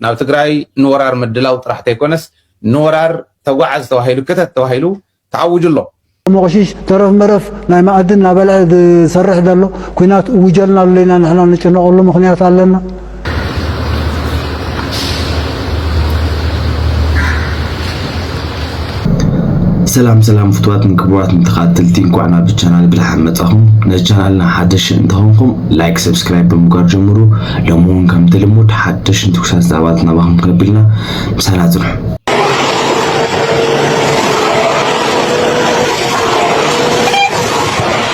ናብ ትግራይ ንወራር ምድላው ጥራሕ ተይኮነስ ንወራር ተጓዓዝ ተባሂሉ ክተት ተባሂሉ ተኣዊጁ ኣሎ። ሞቕሺሽ ተረፍ መረፍ ናይ መኣዲ እናበልዐ ዝሰርሕ ዘሎ ኩናት እውጀልና ኣሎ ኢና ንሕና ንጭነቐሉ ምኽንያት ኣለና። ሰላም ሰላም ፍትዋትን ክቡራትን ተኸታተልቲ እንኳዕ ናብ ቻናል ብደሓን መጻኹም። ነዚ ቻናልና ሓደሽ እንተኾንኩም ላይክ፣ ሰብስክራይብ ብምግባር ጀምሩ። ሎሚ እውን ከምቲ ልሙድ ሓደሽን ትኩሳት ዛዕባታት ናባኹም ከብልና ምሳና ጽንሑ።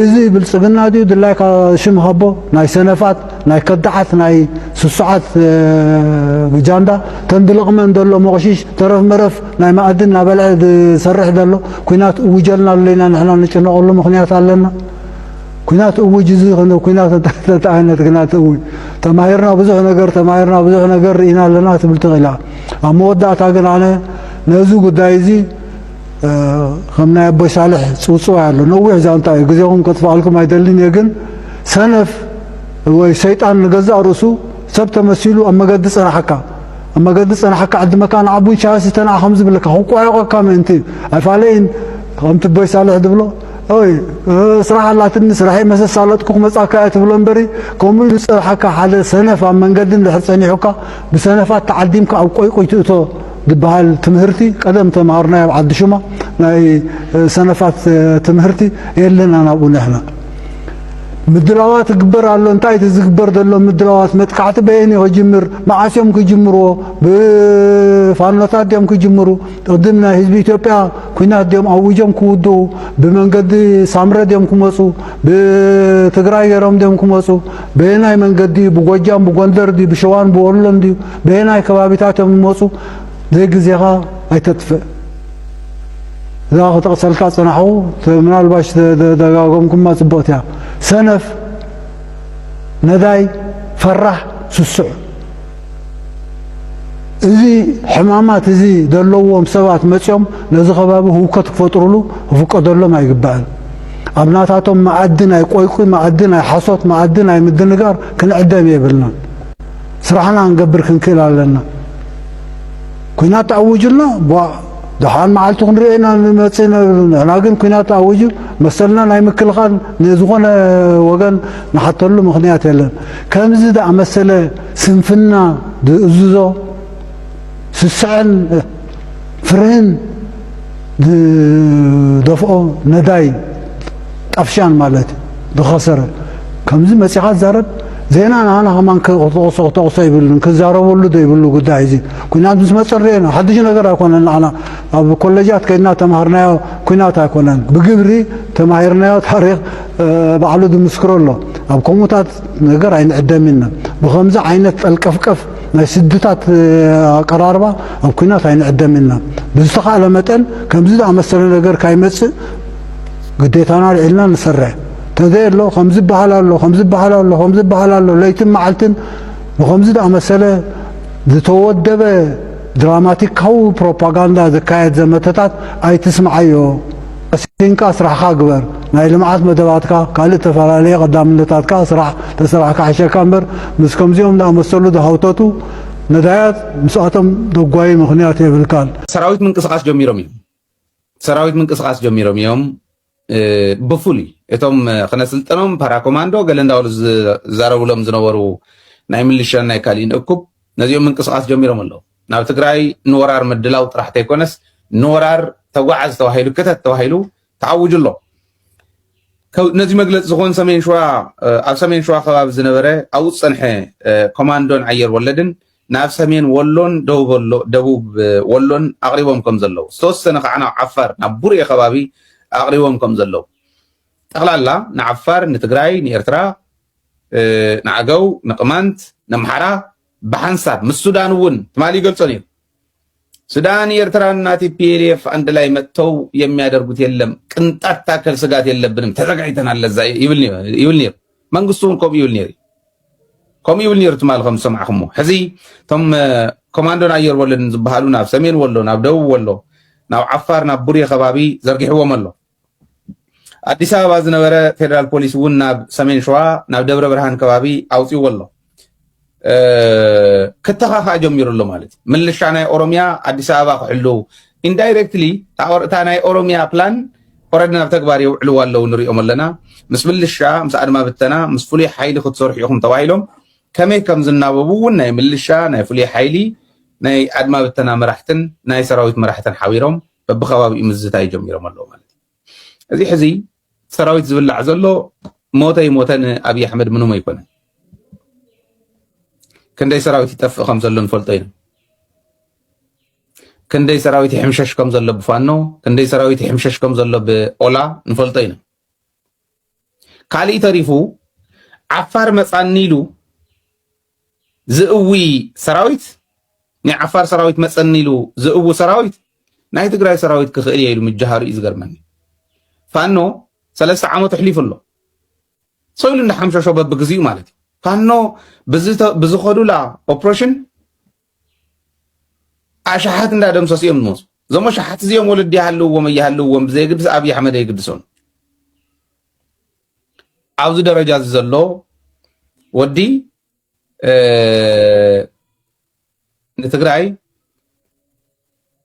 እዚ ብልጽግና ድዩ ድላይካ ሽም ሃቦ ናይ ሰነፋት ናይ ከዳዓት ናይ ስሱዓት ጃንዳ ተን ድልቕመን ዘሎ ሞቕሺሽ ተረፍ መረፍ ናይ ማኣዲ እናበልዐ ዝሰርሕ ዘሎ ኩናት እውጀልና ኣሎ ኢና ንሕና ንጭነቐሉ ምኽንያት ኣለና ኩናት እውጅ እዚ ኩናት እንታይ ዓይነት ኩናት እውጅ ተማሂርና ብዙሕ ነገር ተማሂርና ብዙሕ ነገር ርኢና ኣለና ትብል ትኽእላ ኣብ መወዳእታ ግን ኣነ ነዚ ጉዳይ እዚ ከም ናይ ኣቦይ ሳልሕ ጽውጽዋይ ኣሎ ነዊሕ ዛንታ እዩ ግዜኹም ከጥፍኣልኩም ኣይደልን እየ ግን ሰነፍ ወይ ሰይጣን ንገዛእ ርእሱ ሰብ ተመሲሉ ኣብ መገዲ ጽናሓካ ኣብ መገዲ ጽናሓካ ዕዲ መካን ዓቡ ኢሳያስ ዝተንዓ ከም ዝብለካ ክቋየቆካ ምእንቲ እዩ ኣይፋለይን ከምቲ ቦይ ሳልሕ ዝብሎ ኦይ ስራሕ ኣላትኒ ስራሐይ መሰሳለጥኩ ክመጻካ እያ ትብሎ እምበሪ ከምኡ ኢሉ ዝጸንሓካ ሓደ ሰነፍ ኣብ መንገዲ እንድሕር ጸኒሑካ ብሰነፋት ተዓዲምካ ኣብ ቆይቁይ ትእቶ ዝባሃል ትምህርቲ ቀደም ተማሃርናዮ ኣብ ዓዲ ሹማ ናይ ሰነፋት ትምህርቲ የለን ኣናብኡ ንሕና ምድላዋት ይግበር ኣሎ እንታይ እቲ ዝግበር ዘሎ ምድላዋት መጥቃዕቲ በየን እዩ ክጅምር መዓስ እዮም ክጅምርዎ ብፋኖታት ድዮም ክጅምሩ ቅድም ናይ ህዝቢ ኢትዮጵያ ኩናት ድዮም ኣውጆም ክውድኡ ብመንገዲ ሳምረ ድዮም ክመፁ ብትግራይ ገይሮም ድዮም ክመፁ በየናይ መንገዲ እዩ ብጎጃም ብጎንደር ድዩ ብሸዋን ብወሎን ድዩ በየናይ ከባቢታት እዮም ዝመፁ ዘይ ግዜኻ ኣይተጥፍእ እዛ ክጠቕሰልካ ፅናሕኹ ምናልባሽ ደጋገምኩማ ፅብቕቲ እያ ሰነፍ ነዳይ ፈራሕ ስሱዕ እዚ ሕማማት እዚ ዘለዎም ሰባት መፅኦም ነዚ ከባቢ ህውከት ክፈጥሩሉ ክፍቀደሎም ኣይግባእን ኣብ ናታቶም መኣዲ ናይ ቆይቁይ መኣዲ ናይ ሓሶት መኣዲ ናይ ምድንጋር ክንዕደም የብልናን ስራሕና ክንገብር ክንክእል ኣለና። ኩናት ተኣዊጁልና ጓእ ደሓን መዓልቲ ክንሪኦ ኢና ንመፅእ ነብሉ ንሕና ግን ኩናት ተኣዊጁ መሰልና ናይ ምክልኻል ንዝኾነ ወገን ንሓተሉ ምክንያት የለን። ከምዚ ዝኣመሰለ ስንፍና ዝእዝዞ ስሰዐን ፍርህን ዝደፍኦ ነዳይ ጣፍሻን ማለት ዝኸሰረ ከምዚ መጺኻ ትዛረብ ዜና ንዓና ከማን ክተቕሶ ክተቕሶ ይብልን ክዛረበሉ ዶ ይብሉ ጉዳይ እዚ ኩናት ምስ መፀ ርኤና ሓድሽ ነገር ኣይኮነን ንዓና ኣብ ኮሌጃት ከይድና ተማሃርናዮ ኩናት ኣይኮነን ብግብሪ ተማሂርናዮ ታሪክ ባዕሉ ዝምስክሮ ኣሎ ኣብ ከምኡታት ነገር ኣይንዕደም ኢና ብከምዚ ዓይነት ጠልቀፍቀፍ ናይ ስድታት ኣቀራርባ ኣብ ኩናት ኣይንዕደም ኢልና ብዝተኻእለ መጠን ከምዚ ዝኣመሰለ ነገር ካይመጽእ ግዴታና ኣልዒልና ንሰርሕ ተዘይ ኣሎ ከምዚ በሃል ኣሎ ከምዚ በሃል ኣሎ ከምዚ በሃል ኣሎ ለይትን መዓልትን ብከምዚ ዝኣመሰለ ዝተወደበ ድራማቲካዊ ፕሮፓጋንዳ ዝካየድ ዘመተታት ኣይትስምዓዮ ቀሲንካ ስራሕኻ ግበር ናይ ልምዓት መደባትካ ካልእ እተፈላለየ ቀዳምነታት ከኣ ስራሕ ተሰራሕ ክሓሸካ እምበር ምስ ከምዚኦም ዝኣመሰሉ ዝሃውተቱ ነዳያት ምስኣቶም ደጓዪ ምኽንያት የብልካን። ሰራዊት ምንቅስቃስ ጀሚሮም እዮም ሰራዊት ምንቅስቃስ ጀሚሮም እዮም ብፍሉይ እቶም ክነስልጠኖም ፓራኮማንዶ ገለ እንዳበሉ ዝዛረብሎም ዝነበሩ ናይ ምልሻን ናይ ካሊእን እኩብ ነዚኦም ምንቅስቃስ ጀሚሮም ኣለዉ ናብ ትግራይ ንወራር ምድላው ጥራሕ ተይኮነስ ንወራር ተጓዓዝ ተባሂሉ ክተት ተባሂሉ ተኣውጁ ኣሎ። ነዚ መግለፂ ዝኾን ሰሜን ሸዋ ኣብ ሰሜን ሸዋ ከባቢ ዝነበረ ኣብኡ ዝፀንሐ ኮማንዶን ኣየር ወለድን ናብ ሰሜን ወሎን ደቡብ ወሎን ኣቕሪቦም ከም ዘለዉ ዝተወሰነ ከዓ ናብ ዓፋር ናብ ቡርኤ ከባቢ ኣቕሪቦም ከም ዘለዉ ጠቕላላ ንዓፋር ንትግራይ ንኤርትራ ንዓገው ንቅማንት ነምሓራ ብሓንሳብ ምስ ሱዳን እውን ትማሊ ይገልጾ ነይሩ። ሱዳን ኤርትራና ቲፒኤልኤፍ አንድ ላይ መጥተው የሚያደርጉት የለም ቅንጣት ታከል ስጋት የለብንም ተዘጋጅተናል ለዛ ይብል ነይሩ መንግስቱ እውን ከምኡ ይብል ነይሩ ከምኡ ይብል ነይሩ ትማል ከም ዝሰማዕኹሞ ሕዚ እቶም ኮማንዶን ኣየር ወለድን ዝበሃሉ ናብ ሰሜን ወሎ ናብ ደቡብ ወሎ ናብ ዓፋር ናብ ቡሬ ከባቢ ዘርጊሕዎም ኣሎ ኣዲስ ኣበባ ዝነበረ ፌደራል ፖሊስ እውን ናብ ሰሜን ሸዋ ናብ ደብረ ብርሃን ከባቢ ኣውፅዎ ኣሎ ክተኻኻእ ጀሚሩ ኣሎ ማለት እዩ ምልሻ ናይ ኦሮሚያ ኣዲስ ኣበባ ክሕልው ኢንዳይሬክትሊ እታ ናይ ኦሮሚያ ፕላን ኦረዲ ናብ ተግባር የውዕልዋ ኣለዉ ንሪኦም ኣለና ምስ ምልሻ ምስ ኣድማ ብተና ምስ ፍሉይ ሓይሊ ክትሰርሑ ኢኹም ተባሂሎም ከመይ ከም ዝናበቡ እውን ናይ ምልሻ ናይ ፍሉይ ሓይሊ ናይ ኣድማ ብተና መራሕትን ናይ ሰራዊት መራሕትን ሓቢሮም በብከባቢኡ ምዝታይ ጀሚሮም ኣለዉ ማለት እዩ እዚ ሕዚ ሰራዊት ዝብላዕ ዘሎ ሞተ ይሞተ ንኣብዪ ኣሕመድ ምንም ኣይኮነን ክንደይ ሰራዊት ይጠፍእ ከም ዘሎ ንፈልጦ ኢና ክንደይ ሰራዊት ይሕምሸሽ ከም ዘሎ ብፋኖ ክንደይ ሰራዊት ይሕምሸሽ ከም ዘሎ ብኦላ ንፈልጦ ኢና ካሊእ ተሪፉ ዓፋር መፃኒ ኢሉ ዝእዊ ሰራዊት ናይ ዓፋር ሰራዊት መፀኒ ኢሉ ዝእዊ ሰራዊት ናይ ትግራይ ሰራዊት ክኽእል እየ ኢሉ ምጃሃሩ እዩ ዝገርመኒ ፋኖ ሰለስተ ዓመት ኣሕሊፉ ኣሎ ሰው ኢሉ እንዳሓምሸሾ በብግዚኡ ማለት እዩ ፋኖ ብዝኸዱላ ኦፕሬሽን ኣሽሓት እንዳደምሰሱ እዮም ዝመፁ። እዞም ኣሽሓት እዚኦም ወለዲ ይሃልውዎም ኣይሃልውዎም ብዘየግድስ ኣብዪ ኣሕመድ ኣይግድሶን። ኣብዚ ደረጃ እዚ ዘሎ ወዲ ንትግራይ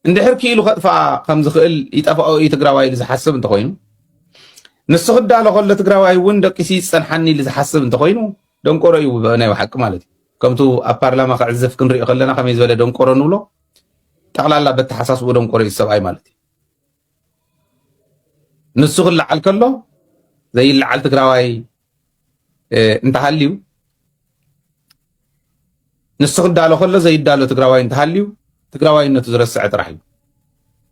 እንድሕር ክኢሉ ከጥፍኣ ከም ዝኽእል ይጠፍኦ እዩ ትግራዋይ ኢሉ ዝሓስብ እንተኾይኑ ንሱ ክዳሎ ከሎ ትግራዋይ እውን ደቂሲ ዝፀንሓኒ ኢሉ ዝሓስብ እንተኾይኑ ደንቆሮ እዩ ናይ ብሓቂ ማለት እዩ ከምቱ ኣብ ፓርላማ ክዕዝፍ ክንሪኦ ከለና ከመይ ዝበለ ደንቆሮ ንብሎ ጠቕላላ በተሓሳስቡ ደንቆሮ እዩ ሰብኣይ ማለት እዩ ንሱ ክለዓል ከሎ ዘይለዓል ትግራዋይ እንተሃልዩ ንሱ ክዳሎ ከሎ ዘይዳሎ ትግራዋይ እንተሃልዩ ትግራዋይነቱ ዝረስዐ ጥራሕ እዩ።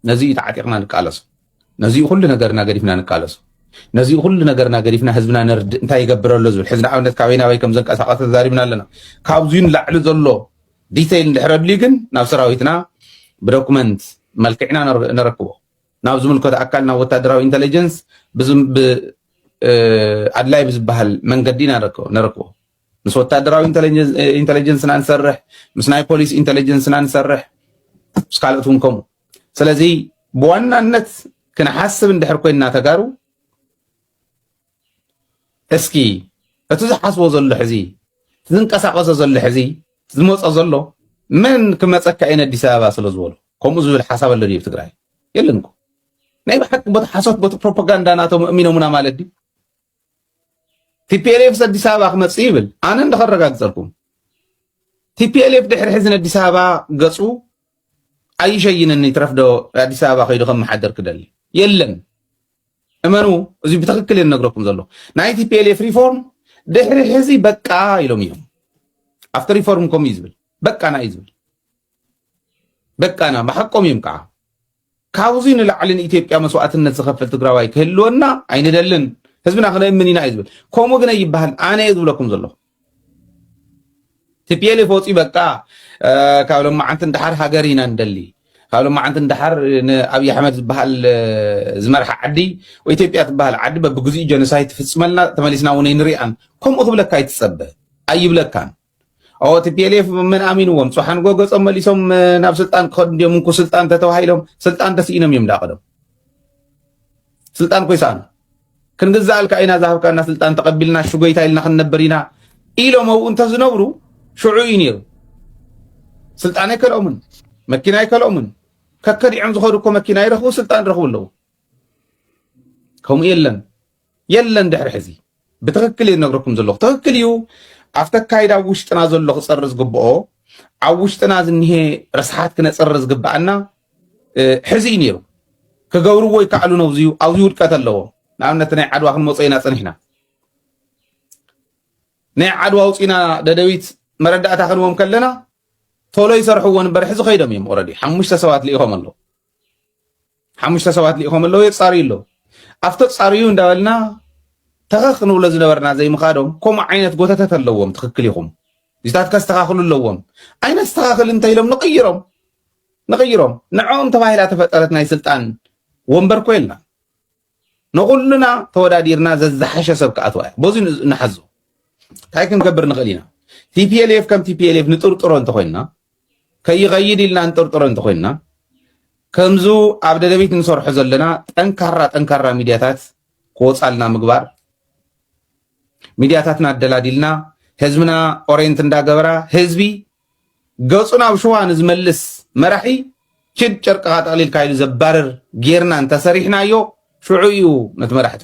ነዚ እዩ ተዓጢቕና ንቃለሶ። ነዚ ኩሉ ነገርና ገዲፍና ንቃለሶ። ነዚ ኩሉ ነገርና ገዲፍና ህዝብና ነርድእ እንታይ ይገብረሎ ዝብል ሕዚ ንኣብነት ካበይ ናበይ ከም ዘንቀሳቐሰ ተዛሪብና ኣለና። ካብዙ ንላዕሊ ዘሎ ዲተይል እንድሕረድልዩ ግን ናብ ሰራዊትና ብዶኩመንት መልክዕና ነረክቦ ናብ ዝምልከቶ ኣካል ናብ ወታደራዊ ኢንተለጀንስ ኣድላይ ብዝበሃል መንገዲ ነረክቦ ምስ ወታደራዊ ኢንተለጀንስና ንሰርሕ ምስ ናይ ፖሊስ ኢንተለጀንስና ንሰርሕ ምስ ካልኦት እውን ከምኡ ስለዚ ብዋናነት ክንሓስብ እንድሕር ኮይንና ተጋሩ እስኪ እቲ ዝሓስቦ ዘሎ ሕዚ ዝንቀሳቀሶ ዘሎ ሕዚ ዝመፆ ዘሎ መን ክመፀካ እየ ኣዲስ ኣበባ ስለ ዝበሎ ከምኡ ዝብል ሓሳብ ኣሎ ድዩ ትግራይ የለን እኮ ናይ ብሓቂ ቦቲ ሓሶት ቦቲ ፕሮፓጋንዳ ናቶም እሚኖሙና ማለት ድዩ ቲፒኤልኤፍስ ኣዲስ ኣበባ ክመፅእ ይብል ኣነ እንደኸረጋግፀልኩም ቲፒኤልኤፍ ድሕሪ ሕዚ ንኣዲስ ኣበባ ገፁ ኣይሸይንን ይትረፍዶ ኣዲስ ኣበባ ከይዱ ከመሓደር ክደሊ የለን እመኑ እዚ ብትክክል እየ ነግረኩም ዘሎ ናይ ቲፒኤልኤፍ ሪፎርም ድሕሪ ሕዚ በቃ ኢሎም እዮም ኣብቲ ሪፎርም ከምኡ እዩ ዝብል በቃና እዩ ዝብል በቃና ብሓቆም እዮም ከዓ ካብዚ ንላዕሊ ንኢትዮጵያ መስዋእትነት ዝኸፍል ትግራዋይ ክህልወና ኣይንደልን ህዝብና ክነእምን ኢና እዩ ዝብል ከምኡ ግን ይበሃል ኣነ እየ ዝብለኩም ዘለኹ ቲፒኤልኤፍ ወፂኡ በቃ ካብ ሎማዓንቲ ንደሓር ሃገር ኢና ንደሊ ካብ ሎማዓንቲ ንደሓር ንኣብዪ ኣሕመድ ዝበሃል ዝመርሓ ዓዲ ወይ ኢትዮጵያ ትበሃል ዓዲ በብግዚኡ ጀኖሳይድ ትፍፅመልና ተመሊስና እውን ኣይንሪኣን ከምኡ ክብለካ ኣይትፀበ ኣይብለካን ኦ ቲፒኤልኤፍ መን ኣሚንዎም ፅሓን ጎገፆም መሊሶም ናብ ስልጣን ክኸዱ እንዲዮም እንኩ ስልጣን ተተባሂሎም ስልጣን ተስኢኖም እዮም ዳቅዶም ስልጣን ኮይሳኑ ክንግዛኣልካ ኢና ዝሃብካና ስልጣን ተቐቢልና ሽጎይታ ኢልና ክንነብር ኢና ኢሎም ኣብኡ እንተዝነብሩ ሽዑ እዩ ነይሩ ስልጣን ኣይከልኦምን መኪና ኣይከልኦምን ከከዲዖም ዝኸዱ እኮ መኪና ይረኽቡ ስልጣን ይረኽቡ ኣለዉ ከምኡ የለን የለን ድሕሪ ሕዚ ብትክክል እዩ ነግረኩም ዘለኹ ትክክል እዩ ኣብቲ ኣካይዳ ኣብ ውሽጥና ዘሎ ክፀሪ ዝግብኦ ኣብ ውሽጥና ዝኒሄ ረስሓት ክነፅሪ ዝግብኣና ሕዚ እዩ ነይሩ ክገብርዎ ይከኣሉ ነው ዝዩ ኣብዚ ውድቀት ኣለዎም ንኣብነት ናይ ዓድዋ ክንመፆ ኢና ፀኒሕና ናይ ዓድዋ ውፅና ደደቢት መረዳእታ ክንዎም ከለና ቶሎ ይሰርሕዎ ንበር ሕዚ ከይዶም እዮም ኦረዲ ሓሙሽተ ሰባት ልኢኾም ኣለዉ ሓሙሽተ ሰባት ልኢኾም ኣለዉ የፃርዩ ኣለዉ ኣብቶ ፃርዩ እንዳበልና ተኸኽ ንብሎ ዝነበርና ዘይምኻዶም ከምኡ ዓይነት ጎተተት ኣለዎም ትኽክል ኢኹም እዚታት ከስተኻኽሉ ኣለዎም ኣይነስተኻኽል እንተኢሎም ንቕይሮም ንቕይሮም ንዕኦም ተባሂላ ተፈጠረት ናይ ስልጣን ወንበር ኮ የልናን ንኹልና ተወዳዲርና ዘዝሓሸ ሰብ ክኣትዋ እያ በዚ ንሓዞ እንታይ ክንገብር ንኽእል ኢና ቲፒኤልኤፍ ከም ቲፒኤልኤፍ ንጥርጥሮ እንተኮይንና ከይኸይድ ኢልና ንጥርጥሮ እንተኮይንና ከምዙ ኣብ ደደቢት ንሰርሖ ዘለና ጠንካራ ጠንካራ ሚድያታት ክወፃልና ምግባር ሚድያታትና ኣደላዲልና ህዝብና ኦሬንት እንዳገበራ ህዝቢ ገጹ ናብ ሽዋ ንዝመልስ መራሒ ኪድ ጨርቅኻ ጠቕሊልካ ኢሉ ዘባርር ጌርና እንተሰሪሕናዮ ሽዑ ኢዩ ነቲ መራሒ ትሕዝቶ።